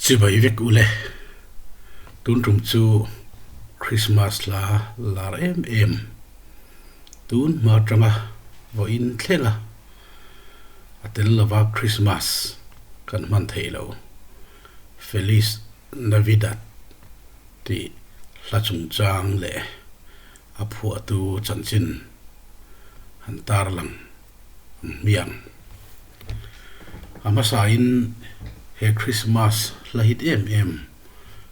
Chibai vek u le. Tun tum chu Christmas hla lar em em. Tun hma tanga vaw in thlenga a tel lova Christmas kan hman thei lo. Feliz Navidad tih hla chungchang leh A phuahtu chanchin han tarlang an hmiang. A hmasain he Krismas hlahit em em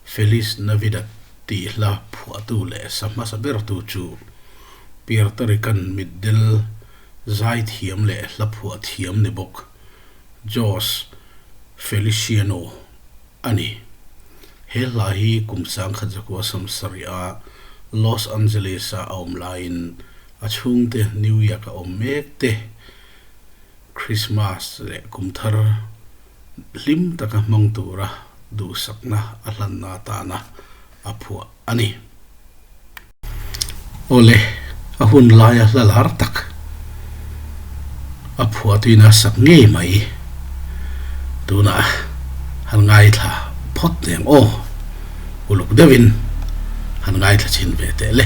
Feliz Navidad tih hla phuahtu leh sa hmasa bertu chu Puerto Rican mitdel zai thiam leh hla phuah thiam ni bawk Jose Feliciano A ni. He hla hi kum sangkhat zakua samsarih a Los Angeles-a a awm laiin a chhungte New Year ka awm mek te, Krismas leh Kumthar hlim taka hmang tura duhsakna a hlanna tana a phuah a ni. Awle, a hun laia hla lar tak a phuah tuin a sak ngei mai. Tunah han ngaithla phawt eng aw. Uluk deuhin han ngaithla chin ve tehle.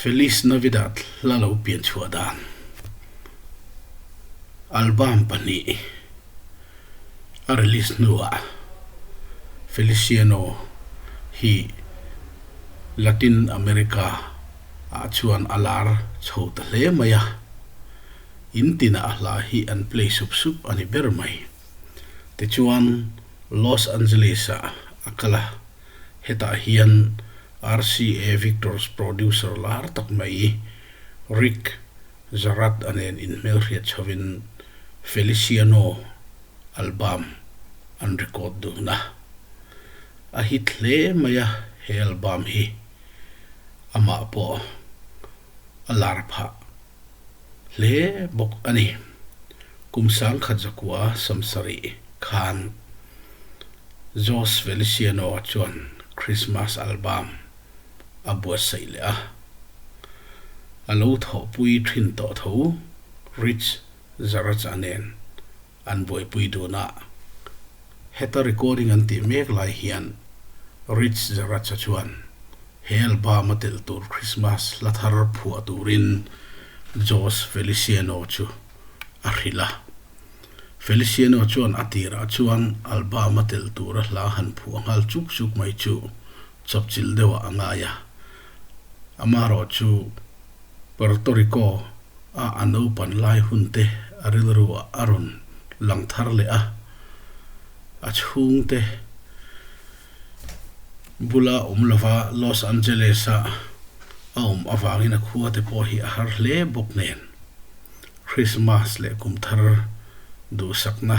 Feliz Navidad la lo pian chhuah dan album pahnih a release hnuah Feliciano hi Latin America ah chuan a lar chho ta hle mai a, in tin ah a hla hi an play sup sup a ni ber mai. Tichuan Los Angeles ah a kal a, Hetah hian RCA Victor's producer lar tak mai Rick Zarratt-a nen inhmelhriat chhovin Feliciano album an record dun a. A hit hle mai a he album hi. Amah pawh a lar phah. hle bawk a ni. Kum sangkhat zakua samsarih khan Jose Feliciano chuan Christmas album a buatsaih leh a. A lo thawhpui ṭhin tawh tho Rich Zarracha nen an buaipui dun a. Heta recording an tih mek lai hian Rich Zeracha chuan he album-a telh tur Krismas hla thar phuah turin Jose Feliciano chu a hrilh a. Feliciano chuan a tirah chuan album-a telh tura hla han phuah nghal chuk chuk mai chu chawpchilh deuhah a ngai a. Amaherawhchu. Puerto Rico a a naupan lai hunte a rilruah a rawn lang thar leh a, a chhungte bula awm lova Los Angeles-a a awm avangin a khuate pawh hi a har hle bawk nen. Krismas leh Kum Thar duhsakna.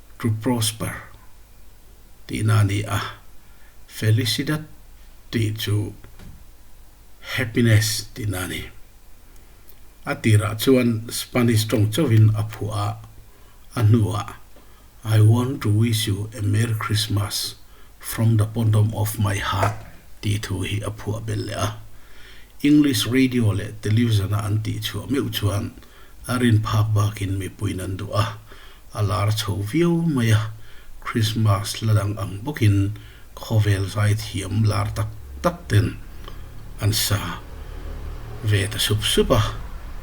to prosper tihna a ni a, felicidad tih chu happiness tihna a ni. A tirah chuan Spanish tawng chauhin a phuah a, a hnuah I want to wish you a merry Christmas from the bottom of my heart tih thu hi a phuah bel leh a. English radio leh television-ah an tihchhuah meuh chuan. A rin phak bakin mipuiin an duh a, a lar chho viau mai a. Krismas la lang ang bawkin khawvel zai thiam lar tak tak ten an sa ve ta sup sup a,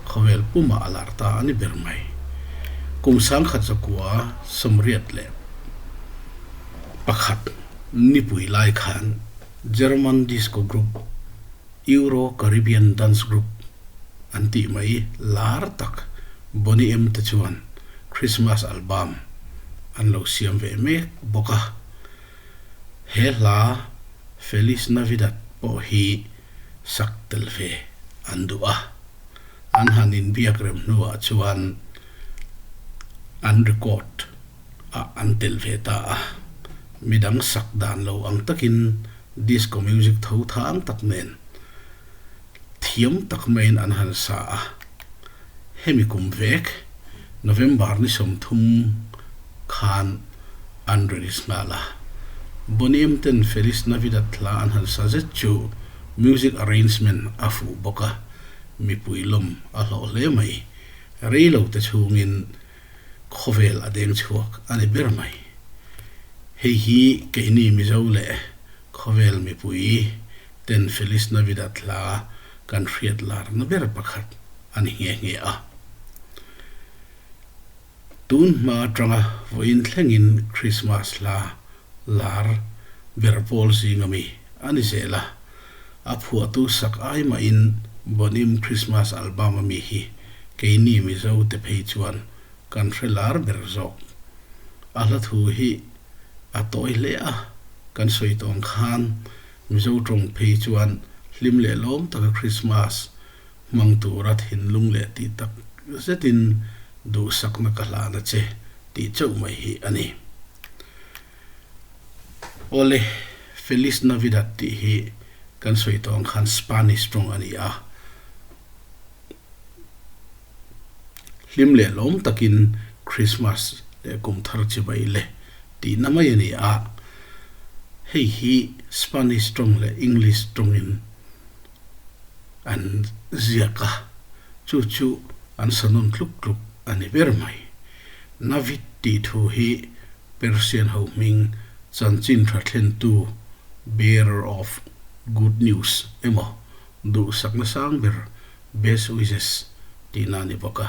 khawvel pumah a lar ta a ni ber mai. Kum sangkhat zakua sawmriat leh pakhat nipui lai khan German disco group, Euro-Caribbean Dance Group an tih mai lar tak Boney M te chuan Christmas album an lo siam ve mek bawk a. He hla Feliz Navidad pawh hi sak tel ve an duh a. An han inbiak rem hnuah chuan an record ah an tel ve ta a, midang sak dan lo ang takin, Disco music tho thang tak nen thiam tak maiin an han sa a. Hemi kum vek, November ni sawm thum khan an release nghal a. Boney M ten Feliz Navidad hla an han sa zet chu music arrangement a fuh bawk a, mipui lawm a hlawh hle mai. Rei lo te chhungin khawvel a deng chhuak a ni ber mai. Hei hi keini Mizo leh khawvel mipui ten Feliz Navidad hla kan hriat larna ber pakhat a ni nghe nghe a. Tun hma atanga vawiin thlengin Krismas hla lar ber pawl zinga mi a ni zel a, a phuahtu sak ai mahin Bonim Christmas album a mi hi keini Mizo te phei chuan kan hre lar ber zawk. A hla thu hi a tawi hle a, kan sawi tawng khan Mizo tawng phei chuan hlim lehlawm taka Christmas Hmang tura thinlung leh tih tak zetin duhsakna ka hlan a che tih chauh mai hi a ni. Ole, Feliz Navidad tih hi kan sawi tawh ang khan Spanish rawng a ni a, hlim leh lawm takin Krismas leh kum thar chibai le tihna mai a ni a, hei hi Spanish rawng leh English rawngin. an ziak a, chu chu an sanun tluk tluk a ni ber mai. Navid tih thu hi Persian ho hming chanchin tha thlentu, bearer of good news, emaw, duhsakna sang ber, best wishes, tihna a ni bawk a,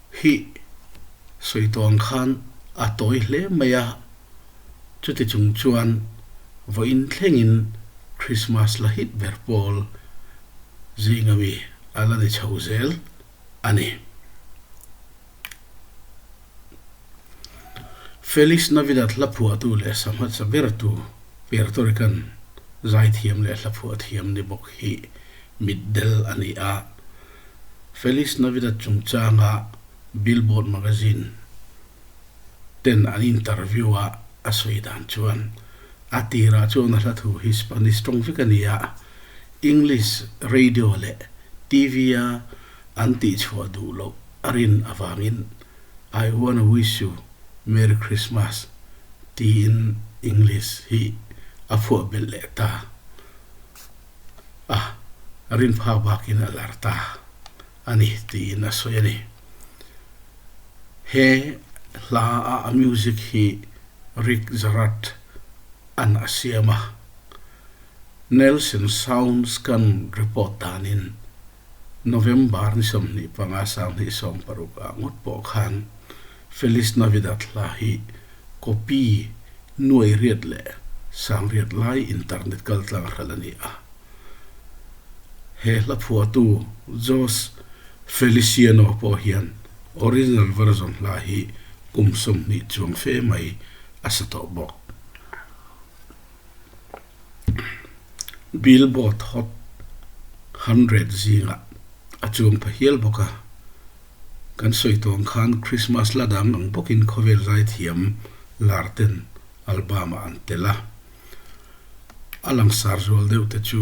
Hi sawidawn khan a tawi hle mai a, chuti chung chuan vawiin thlengin Krismas la hit ber pawl zing ami a la ni chho zel a ni. Feliz Navidad hlaphuahtu leh sangha chabertu Puerto Rican zaithiam leh hlaphuah thiam ni bawk hi mitdel a ni a, Feliz Navidad chungchanga Billboard Magazine ten an interview ah a sawi dan chuan a tirah chuan a hlathu hi Spanish tawng vek a ni a, English radio leh TV a an tih chhuah duh loh a rin avangin I wanna wish you Merry Christmas tiin English hi a phuah belh leh ta. a rinphak bakin a lar ta a ni tiin a sawi a ni. He hla a music hi Rick Jarrett an a siam a, Nelson Sounds kan report danin November ni sawmhnih panga sanghnih sawm paruk ah ngawt pawh khan Feliz Navidad hla hi Kopi, Nuairiat leh Sangriat lai internet kaltlang a hralh a ni a. He hla phuahtu Jos Feliciano pawh hian original version hla hi kum sawmhnih chuang fe mai a sa tawh bawk. Billboard Hot Hundred zingah a chûng pha hial bawk a. Kan sawi tawng khan Krismas la dang ang bawkin khawvel zaithiam lar ten album-ah an tel a. A langsar zual deuhte chu.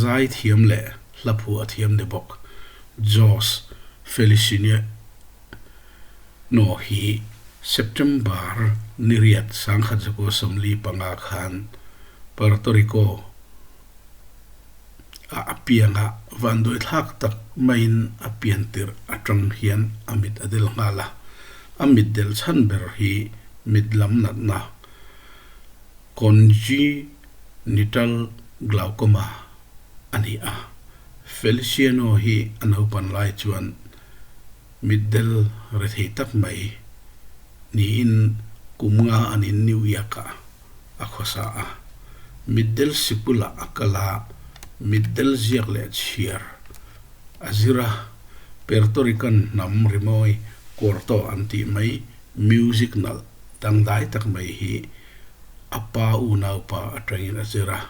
Zai thiam leh hla phu a thiam de bawk. Jos Felicinia Hno hi September ni riat Sangkhat Zakua Sawmli panga khan Puerto Rico ah a pianga vanduaithlak tak maiin a pian tirh atang hian a mit a del nghal a. A mit delh chhan ber hi mit lam natna. Congenital glaucoma a ni a, Feliciano hi a naupan lai chuan mitdel re thei tak mai niin kum nga anin New York-ah a khawsa a. Mitdel si bulah a kal a, mitdel ziak leh chhiar a zir a, Perto Rican hnam rimawi kawr tawh an tih mai, music nalh Dangdai tak mai hi a pa unaupa atangin a zir a,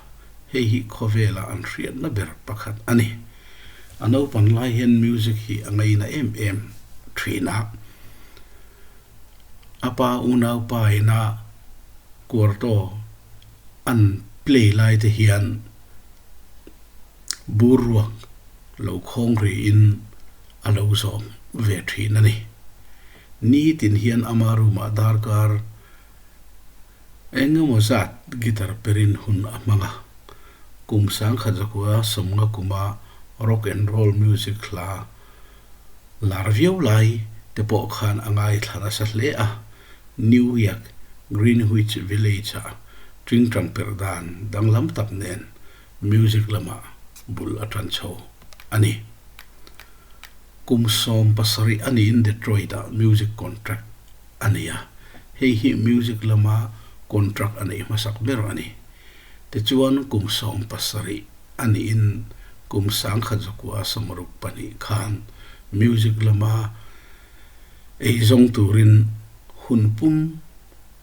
hei hi khawvela an hriatna ber pakhat a ni. A naupan lai hian music hi a ngaina em em thin a. A pa unaupa ina kuarto an play lai te hian bur ruak lo khawngri in a lo zawm ve thin a ni. Nitin hian ama room ah darkar engemaw zat guitar perin hun a hmang a. Kum sangkhat zakua sawmnga kuma rock and roll music hla lar viau lai te pawh khan a ngaithla nasa hle a. New Yak, Greenwich Village ah tingtang perh dan danglam tak nen Music lama bul a tan chho a ni. Kum sawm pasarih a niin Detroit-a music contract a nei a, hei hi music lama contract a neih hmasak ber a ni. Tichuan kum sawm pasarih a niin kum sangkhat zakua samaruk pahnih khan music lama ei zawng turin hun pum,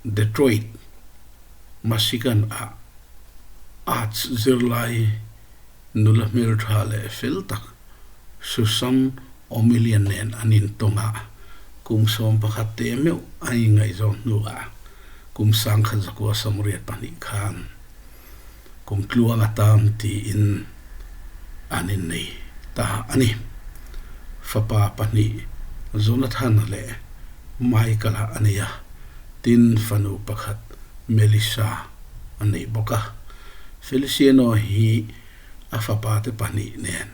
Detroit, Michigan ah arts zirlai nula hmeltha leh fel tak Susan O'Millian nen an intawng a, kum sawm pakhat te meuh a ingaihzawn hnuah kum sangkhat zakua samriat pahnih khan. kum tluang a tam tiin an innei ta a ni. Fapa pahnih Jonathan leh Michael a nei a, tin fanu pakhat Melissa a nei bawk a. Feliciano hi a fapate pahnih nen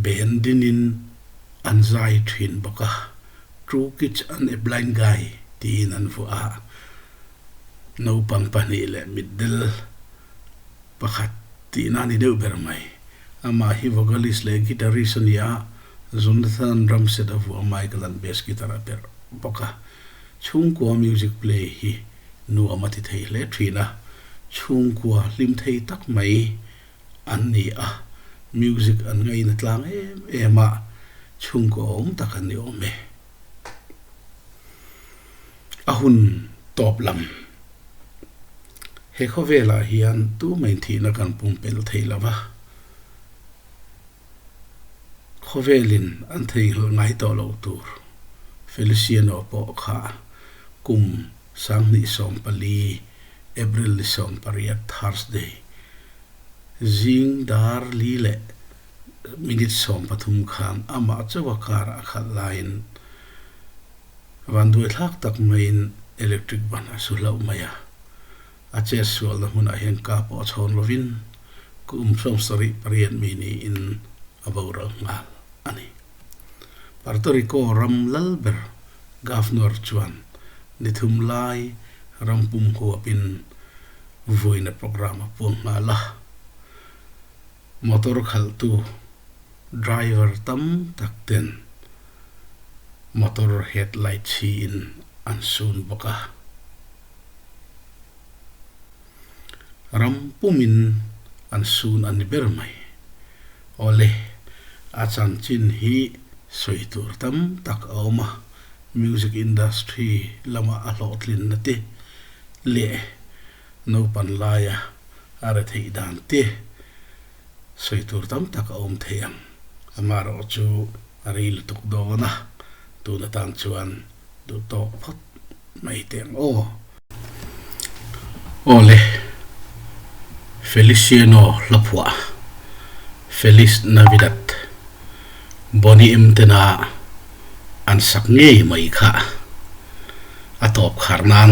ben dingin an zai thin bawk a, True Kids an e Blind Guy tiin an vuah a. Naupang pahnih leh mitdel pakhat tihna a ni deuh ber mai. Amah hi vocalist leh guitarist a ni a, Jonathan Drumset a vuah a, Michael an bass guitar a perh bawk a. Chhungkua music play hi nuam a ti thei hle thin a, chhungkua hlimthei tak mai an ni a, music an ngaih na tlang em em a, chhungkua awm tak an ni awm e. A hun tawp lam he khawvelah hian tu mai thihna kan pum pel thei lo va, khawvelin an theihhlh ngai tawh lo tur Feliciano pawh kha kum sanghnih sawm pali, April ni sawm pariat, Thursday, zing dar li leh minute sawm pathum khan amah chauha karah a khalh laiin, Vanduai thlak tak maiin electric ban a su hlauh mai a, a chet sualna hmunah hian car pawh a chhawn lovin ku um thluam sarih pariat mi niin a boral nghal a ni. Puerto Rico ram lal ber governor chuan ni thum lai ram pum huapin vuina programme a puang nghal a. Motor khalhtu driver tam tak ten motor headlight chhi in an sun bawk a. Ram pum in an sun a ni ber mai. Awle a chanchin hi sawi tur tam tak a awm a, music industry lamah a hlawhtlin na te leh Naupan laia a re theih dan te sawi tur tam tak a awm thei ang. Amaherawh chu a rei lutuk dawn a, tun atan chuan duh tawk phawt mai teh ang aw. Awle, Feliciano hlaphuah, Feliz Navidad, Boni em ten a an sak ngei mai kha a tawp khar nan.